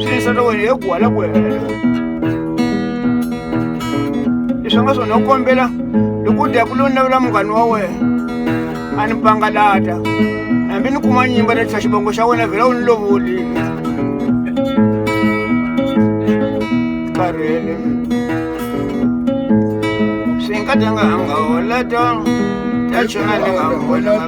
swi yisa ka wena hi ku hala ku hela leswi nga swona u kombela loko u dya ku lo ni lavela munghani wa wena a ni pangalata hambi ni kuma nyimba ni tlha xivongo xa wena vhela u ni lovulile karhele swi nga dyanga hanga holeta ta chona ni nga vona